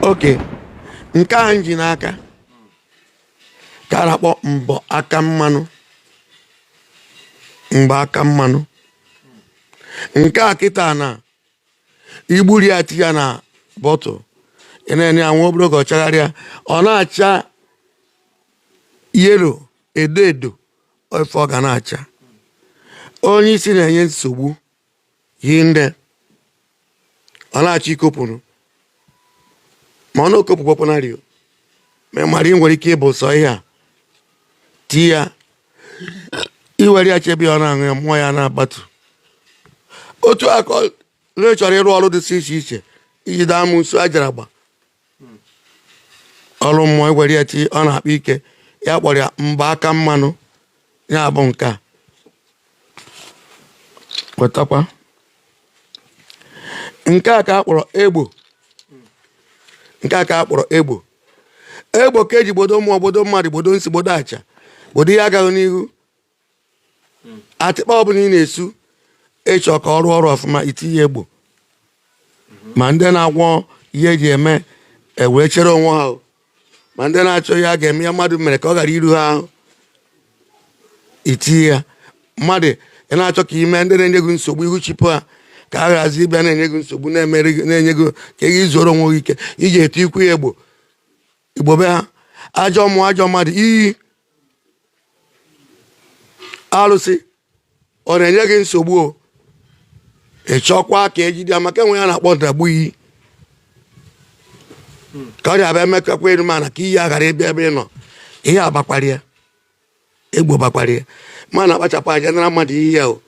okay nke a m ji n'aka ka a na-akpọ mbọ aka mmanụ mgba aka mmanụ nke a kịta na igburi ya tinye na bottle ị na-enye ya nwa obere oge ọ chagharịa ọ na-acha yellow edo edo ọ ife ọ ga na-acha onye isi na-enye nsogbu yi nne ọ na-achọ ikopụrụ ma ọ na-okopụkwapụnarị mmadụ ị nwere ike ịbụ sọ ihe a ti ya iwere ya chebe ya ọ na-aṅụ ya mmụọ ya na-agbatu otu aka chọrọ ịrụ ọrụ dịsị iche iche iji daa amụsụ ajara agba ọrụ mmụọ iwere ya ti ọ na-akpa ike ya kpọrọ ya mgba aka mmanụ ya bụ nke a wetakwa nke a ka a kpọrọ egbo nke a ka a kpọrọ egbo egbo ka eji gbodo mmụọ gbodo mmadụ gbodo nsi gbodo aja gbodo ihe agaghị n'ihu hmm. atịkpa ọbụla ị na-esu ị chọọ ka ọ rụọ ọrụ ọfụma itinye egbo hmm. ma ndị na-agwọ ihe eji eme ewere chere onwe ha ma ndị na-achọ ihe a ga-eme ihe mmadụ mere ka ọ ghara iru ha ahụ itinye ya mmadụ ị na-achọ ka ime ndị na-enye gị nsogbu ihu chụpụ ha ka ha ghazi ịbịa na-enye gị nsogbu na-enye gị ka ị zoro onwe gị ike iji etu ikwu ya egbo igbobe ha ajọ mmụọ ajọ mmadụ iyi alụsị ọ na-enye gị nsogbu o ị chọkwa ka ejide ya maka enwe ihe a na-akpọ ndagbu iyi ka ọ ga-abịa emekakwa elu mana ka iyi a ghara ịbịa ebe ị nọ ihe a gbakwara ya egbo gbakwara ya ma na akpachapụ anya nara mmadụ ihe ya o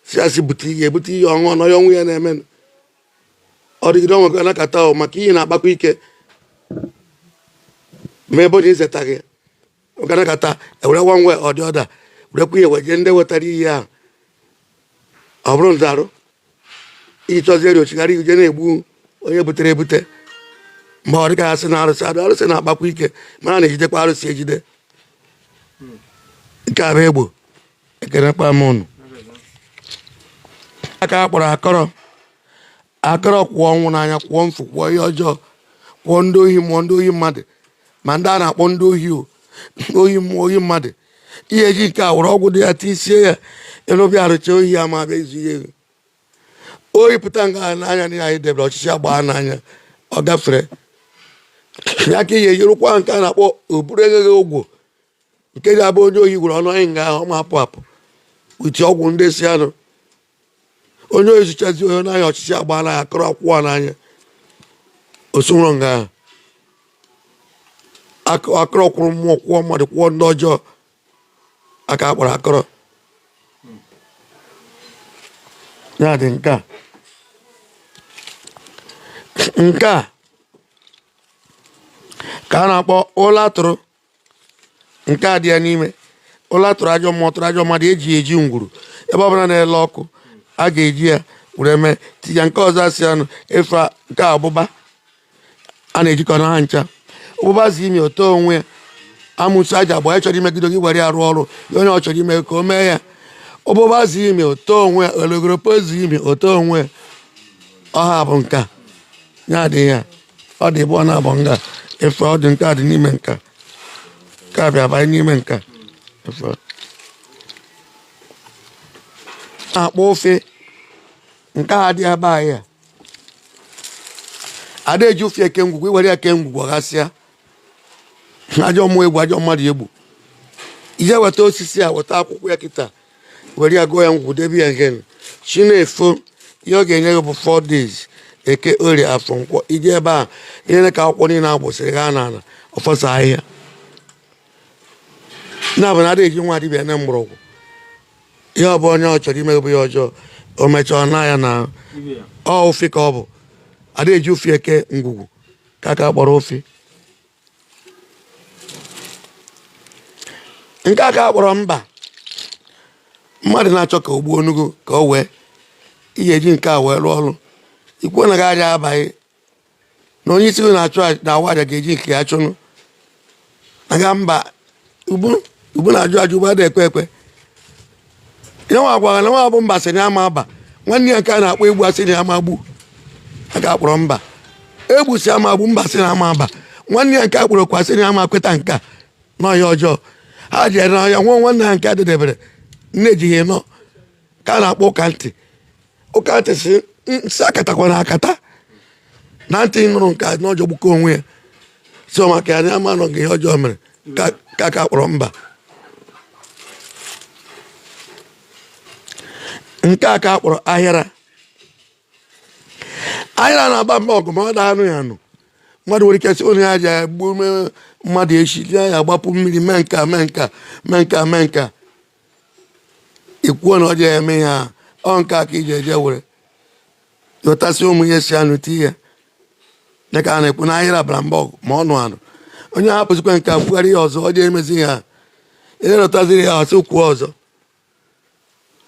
si asị bute ihe ebute ihe ọṅụ ọnọ ya onwe ya na-emenụ ọ dịgide onwe gị anakọta ahụ maka iyi na-akpakwa ike ma ebe onye izeta gị ganakọta ewere nwa nwe ọdị ọda werekwa ihe weje ndị wetara iyi ahụ ọ bụrụ nzarụ iyi chọzie eri ọ chigharịa je na-egbu onye butere ebute ma ọ dịka asị na arụsị adụ arụsị na-akpakwa ike mana a na-ejidekwa arụsị ejide nke a bụ egbo nke a kwanụ ka a kpọrọ akọrọ akọrọ kọọ ọnwụ n'anya kọọ mfu kọọ ihe ọjọọ kọọ ndị ohi mmụọ ndị ohi mmadụ ma ndị a na-akpọ ndị ohi o ohi mmụọ ohi mmadụ ihe eji nke a were ọgwụ dị ya tisie ya ịrụbịa arụcha ohi ya ma bịa izu ihe ohi pụta nga n'anya na anyị debere ọchịchị agbaa n'anya ọ gafere ya ka ihe yirụkwa nke a na-akpọ oburu enyeghị ogwo nke ji abụ onye ohi gwere ọnụ anyị nga ahụ ọ ma apụ apụ uti ọgwụ ndị si anụ onye ohi zuchazi onye n'anya ọchịchị agbaa n'anya akọrọ akwụọ ya n'anya osunwụrụ nga ahụ akọrọ kwụrụ mmụọ kwụọ mmadụ kwụọ ndị ọjọọ ka a kpọrọ akọrọ ya dị nke a nke a ka a na-akpọ ụla tụrụ nke a dị ya n'ime ụla tụrụ ajọ mmụọ tụrụ ajọ mmadụ eji eji ngwuru ebe ọ bụla na-ele ọkụ a ga-eji ya were mee tinye nke ọzọ asị anụ efe nke ụbụba a na-ejikọ na ha ncha ụbụba zi imi oto onwe ya amụsụ aja agba ya chọrọ imegide gị were ya rụọ ọrụ ya onye ọ chọrọ ime ka o mee ya ụbụba zi imi oto onwe ya ologoropo zi imi oto onwe ya ọ ha bụ nke a adịghị ya ọ dị ebe ọ na-abụ nga efe ọ dị nke a dị n'ime nka nke a bịa banye n'ime nka a na-akpọ ofe nke a dị ebe anyị a a da eji ofe eke ngwugwu i were ya kee ngwugwu ọ ghasịa ajọ mmụọ egbu ajọ mmadụ egbu i je weta osisi a weta akwụkwọ ya kịta were ya gụọ ya ngwụ debe ya mgbe chi na-efo ihe ọ ga-enye gị bụ 4 days eke orie afọ nkwọ i je ebe a ihe ka akwụkwọ niile agbụsịrị ha n'ala ọfọsa ahịhịa na bụ na adịghị eji nwa dibịa na mgbọrọgwụ ihe ọ bụ onye ọ chọrọ imegbu ya ọjọọ o mechaa na ya na ọ ofe ka ọ bụ adịghị eji ofe eke ngwugwu nke a ka a kpọrọ ofe nke a ka a kpọrọ mba mmadụ na-achọ ka o gbuo onugo ka o wee ihe eji nke a wee rụọ ọrụ ikwu na ọ gaghị aba gị na onye isi na-achụ na-awa aja ga-eji nke ya chụnụ aga mba ugbu ugbu na-ajụ ajụ ugbu a da ekwe ekwe ya nwa gwara na nwa bụ mba sị na ya ma aba nwanne ya nke a na-akpọ egbu asị na ya ma egbu ka a kpọrọ mba egbu sị a ma egbu mba sị na ya ma aba nwanne ya nke a kpọrọ kwa sị na ya ma kweta nke a n'ọhịa ọjọọ ha jere n'ọhịa nwụọ nwanne ha nke a dedebere nne ejighị nọ ka a na-akpọ ụka ntị ụka ntị sị nsị akatakwana akata na ntị nụrụ nke a n'ọjọọ gbuko onwe ya so maka ya na a ma nụ gị ihe ọjọọ mere ka a kpọrọ mba nke a ka a kpọrọ ahịara ahịara na-agba mba ọgụ ma ọ da anụ ya anụ mmadụ nwere ike sị na ya ja-egbu mmadụ echi ya agbapụ mmiri mee nka mee nka mee nka mee nka ikwuo na ọ ji eme ihe a ọ nke a ka iji eje were yọtasị ụmụ ihe si anụ ti ya dịka a na-ekwu n'ahịrị abara mba ọgụ ma ọnụ anụ onye hapụzikwa nke a kwugharị ya ọzọ ọ ji emezi ihe a ihe rọtaziri ya asị kwuo ọzọ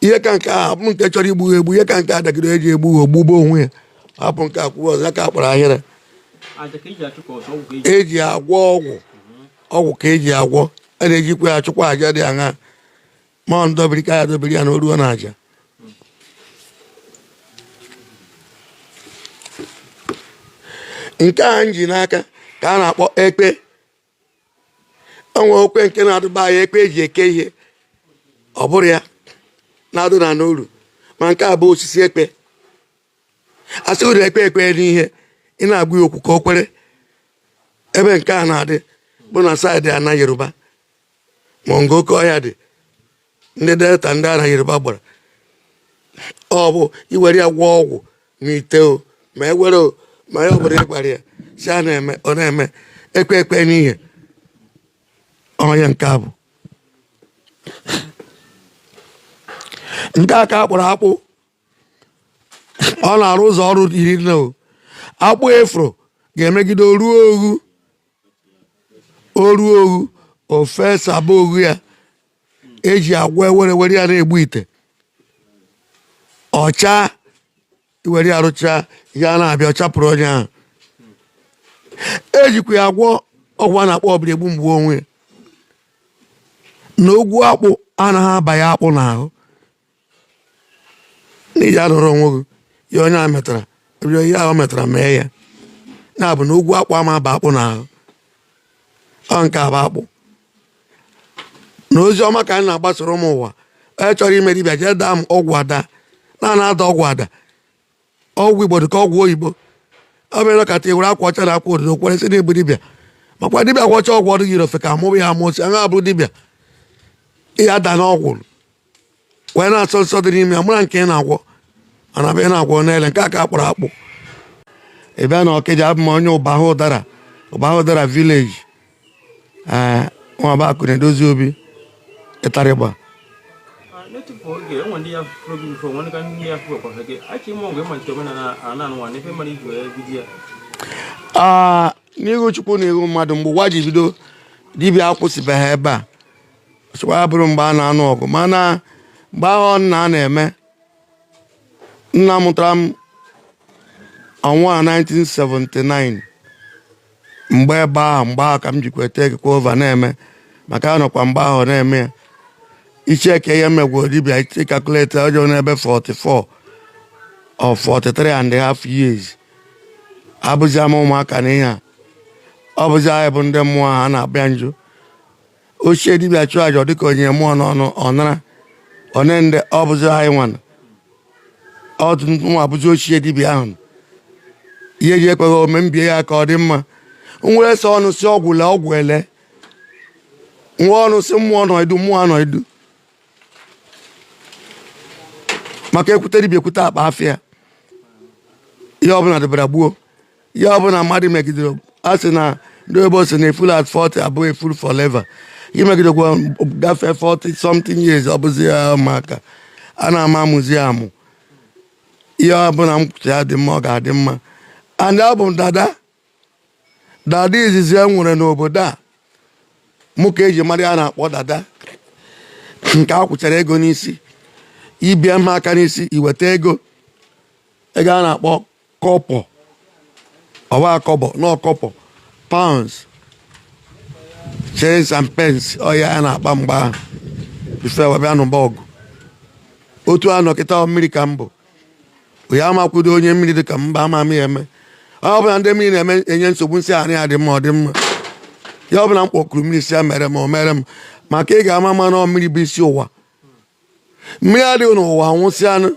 ihe ka nke a hapụ nke chọrọ igbu egbu ihe ka nke a dagide eji egbu ha o gbugbuo onwe ya hapụ nke a kwuo ọzọ ya ka a kpọrọ ahịhịa eji agwọ ọgwụ ọgwụ ka eji agwọ a na-ejikwa ya achụkwa aja dị aṅa ma ọ ndọbiri ka ya dobiri ya na oruo na aja nke a m ji n'aka ka a na-akpọ ekpe o nwekwa nke na-adụba ya ekpe eji eke ihe ọ bụrụ ya na-adụ na n'olu ma nke a bụ osisi ekpe a sị ụdị ekwe ekwe n'ihe ị na-agwa ya okwu ka o kwere ebe nke a na-adị bụ na side ana yoruba ma ọ nga oke ọhịa dị ndị delta ndị ana yoruba gbara ọ bụ iwere ya gwọọ ọgwụ n'ite o ma ewere o ma ya ọbụla ịgbara ya si a na-eme ọ na-eme ekwe ekwe n'ihe ọ ya nke a bụ nke a ka a kpọrọ akpụ ọ na-arụ ụzọ ọrụ iri na anọ akpụ efro ga-emegide oruo oghu oruo oghu ofe saba oghu ya eji agwọ ewere were ya na-egbu ite ọcha iwere ya rụchaa ihe na-abịa ọ chapụrụ onye ahụ ejikwa ya agwọ ọgwụ a na-akpọ ọbịara egbu m gbuo onwe ya na ogwu akpụ anaghị aba ya akpụ n'ahụ na ị ya-anọrọ onwe gị ihe onye a metara ihe ahụ metara mee ya na-abụ na ogwu akpụ ama aba akpụ na ahụ ọ nke a bụ akpụ na ozi ọma ka anyị na-agbasoro ụmụ ụwa onye chọrọ ime dibịa jee daa m ọgwụ ada na a na-ada ọgwụ ada ọgwụ igbo dịka ọgwụ oyibo ọ bụrọ ka etiwere akwa ọcha na akwa ododo kwere sị na ị bụ dibịa makwa dibịa gwọcha ọgwụ ọdụ yiri ofe ka amụwa ya amụsịa ya abụrụ dibịa ihe ada n'ọgwụ wee na-asọ nsọ dị n'ime ya mụra nke ị na-agwọ mana bụ ị na-agwọ niile nke a ka akpọrọ akpụ ị bịa na ọkịja abụ m onye ụbahụdara ụbahụdara village ee nwabakụ na-edozi obi ịtarịgba aa n'ihu chukwu na ihu mmadụ mgbe ụwa ji bido dibịa akwụsịbeghị ebe a sịkwa ya bụrụ mgbe a na-anụ ọgụ mana mgbe ahụ nna a na-eme nna mụtara m ọnwa 1979 mgbe ebe ahụ mgbe ahụ ka m jikwa ete ekekwa ova na-eme maka anọkwa mgbe ahụ na-eme ya ị checkie ihe megwuo dibịa ị calculate ọjọọ n'ebe 44 or 43 and a half years abụzi m ụmụaka na ihe a ọ bụzi anyị bụ ndị mmụọ ha na-abịa njụ ochie dibịa chụọ aja dịka o nye mmụọ n'ọnụ ọ nara one ndị ọ bụzi anyị nwa nọdụ nwa bụzi ochie dibịa ahụ ihe ji ekweghị ome m bie ya aka ọ dị mma m were sọ ọnụ sị ọgwụ lee ọgwụ elee m were ọnụ sị mmụọ nọdụ mmụọ anọdụ maka e kwute dibịa e kwute akpa afịa ihe ọbụla dịbara gboo ihe ọ bụla mmadụ megidere a sị na ndị oyibo sị na a fool at 40 bụ a fool forever i megidekwa gafee 40 something years ọ bụzi ya ụmụaka a na-ama amụzi amụ ihe ọ bụla m kwuo sị ya dị mma ọ ga-adị mma and abụ m dada dada izizi e nwere n'obodo a mụ ka e ji mara ihe a na-akpọ dada nke a kwụchara ego n'isi i bie m aka n'isi i weta ego ego a na-akpọ kọpọ ọwa akọbọ n'ọkọpọ pounds shillings and pence ọ ya a na-akpa mgbe ahụ before e wee bịa nụba ọgụ otu a nọ kịta mmiri ka m bụ ya amakwudo onye mmiri dị ka mba ama m ya eme ọ bụla ndị mmiri na-eme enye nsogbu m sị anị ya dị mma ọ dị mma ihe ọ bụla m kpọkuru mmiri sị ya mere m o mere m maka ị ga-ama ma na mmiri bụ isi ụwa mmiri adịghị n'ụwa anwụsịanụ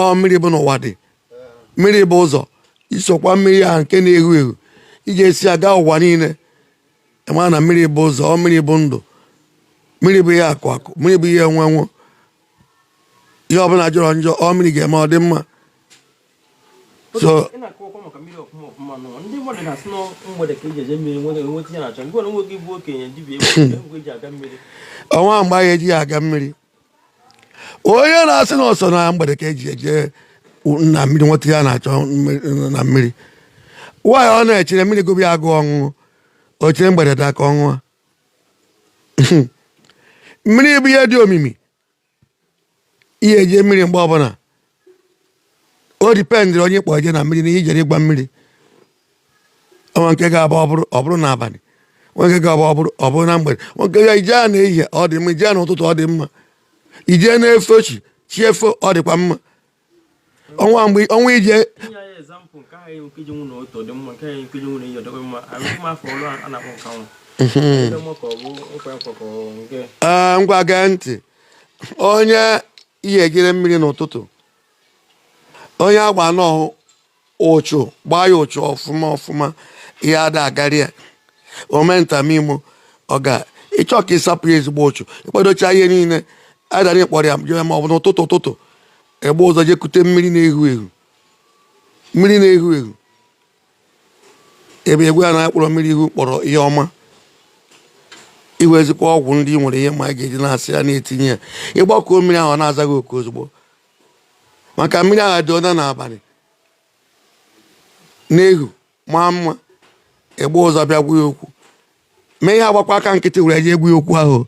ọ mmiri bụ n'ụwa dị mmiri bụ ụzọ i sokwa mmiri ahụ nke na-ehu ehu ị ga-esi aga ụwa niile ma na mmiri bụ ụzọ ọ mmiri bụ ndụ mmiri bụ ihe akụ akụ mmiri bụ ihe enwe enwe ihe ọbụla jọrọ njọ ọ mmiri ga-eme ọ dị mma so o nweghị mgbe anyị ejighị aga mmiri onye na-asị na ọ sọ na mgbede ka e ji eje na mmiri nweta ihe a na-achọ na mmiri nwaanyị ọ na-echere mmiri gụbe ya agụụ ọṅụṅụ o chere mgbede daa ka ọ ṅụa mmiri bụ ihe dị omimi ị ya-eje mmiri mgbe ọbụla ọ dependịrị onye kpọrọ je na mmiri na ihe i jere ịgwa mmiri o nwe nke ga-abụ ọ bụrụ n'abalị o nwe nke ga-abụ ọ bụrụ na mgbede o nwe nke ya i jea na ehihie ọ dị mma i jea n'ụtụtụ ọ dị mma i je na-efo chi chi efo ọ dịkwa mma o nweghị mgbe o nweghị ije ee ngwa gee ntị onye ị ya-ejere mmiri n'ụtụtụ onye agba n'ọhụ ụchu gbaa ya ụchu ọfụma ọfụma ihe ada agari ya o mee nta mee imo ọ ga ịchọ ka ị sapụ ya ezigbo ụchu ị kpadocha ihe niile a nara ị kpọrọ ya jee ma ọ bụ n'ụtụtụ ụtụtụ ị gbaa ụzọ jekute mmiri na-ehu ehu mmiri na-ehu ehu ebe egwu a na-akpọrọ mmiri ihu kpọrọ ihe ọma ị wezikwa ọgwụ ndị nwere ihe ma a ga-eji na-asị ya na-etinye ya ịgbakọ mmiri ahụ na-aza gị oku ozugbo maka mmiri ahụ edoona n'abalị na-ehu maa mma ị gbaa ụzọ bịa gwa ya okwu ma ị ya agbakwa aka nkịtị were je gwa ya okwu ahụ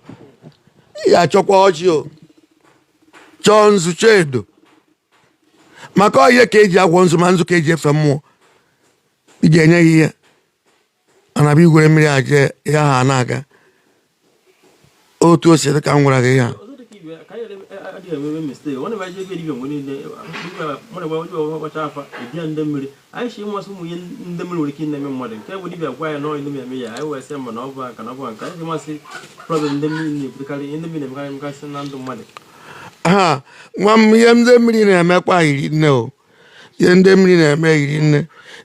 ị ya-achọkwa ọjị o chọọ nzu chọọ edo maka ọ ya ka eji agwọ nzu ma nzu ka eji efe mmụọ ị ga-enye ya ihe mana bụ i were mmiri aje ya ha na-aga otu o si dị ka m gwara gị ya ha nwa m ihe ndị mmiri na-emekwa hiri nne o ihe ndị mmiri na-eme hiri nne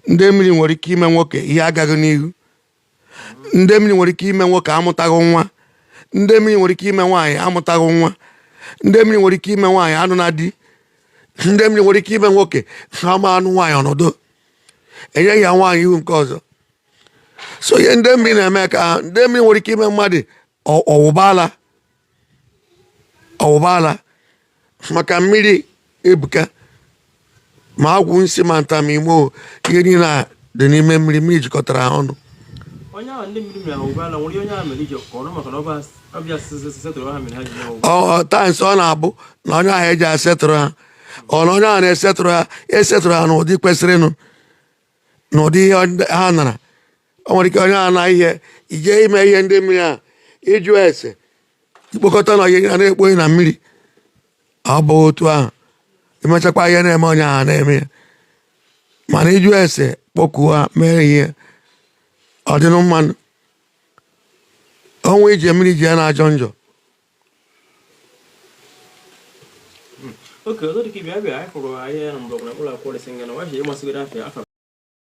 ndị mmiri nwere ike ime nwoke ihe agaghị n'ihu ndị mmiri nwere ike ime nwoke amụtaghị nwa ndị mmiri nwere ike ime nwaanyị amụtaghị nwa ndị mmiri nwere ike ime nwaanyị anụna di ndị mmiri nwere ike ime nwoke ama anụ nwaanyị ọ nọdụ enye ya nwaanyị ihu nke ọzọ so ihe ndị mmiri na-eme ka ndị mmiri nwere ike ime mmadụ ọ wụba ala ọ wụba ala maka mmiri ebuka ma agwụ nsị ma nta ma imo ihe niile a dị n'ime mmiri mmiri jikọtara ha ọnụ at times ọ na-abụ na onye ahụ eji asetụrụ ha ọ na onye ahụ na-esetụrụ ha esetụrụ ha n'ụdị kwesịrịnụ n'ụdị ihe ha nara o nwere ike onye ahụ na ihe ije ime ihe ndị mmiri a ịjụ ese ikpokọta na ihe a na-ekpoghị na mmiri ọ bụ otu ahụ emechakwa ihe na-eme onye ahụ na-eme ya mana ịjụ ese kpọkuo ha mee ihe ọ dịnụ mma o nwe ije mmiri ji ya na-ajọ njọ oke ọzọ dịka ibe abịa anyị hụrụ ahịa na mgbọrọgwụ na mkpụrụ akwụkwọ resi ngana wachi ịmasịgoro afịa afa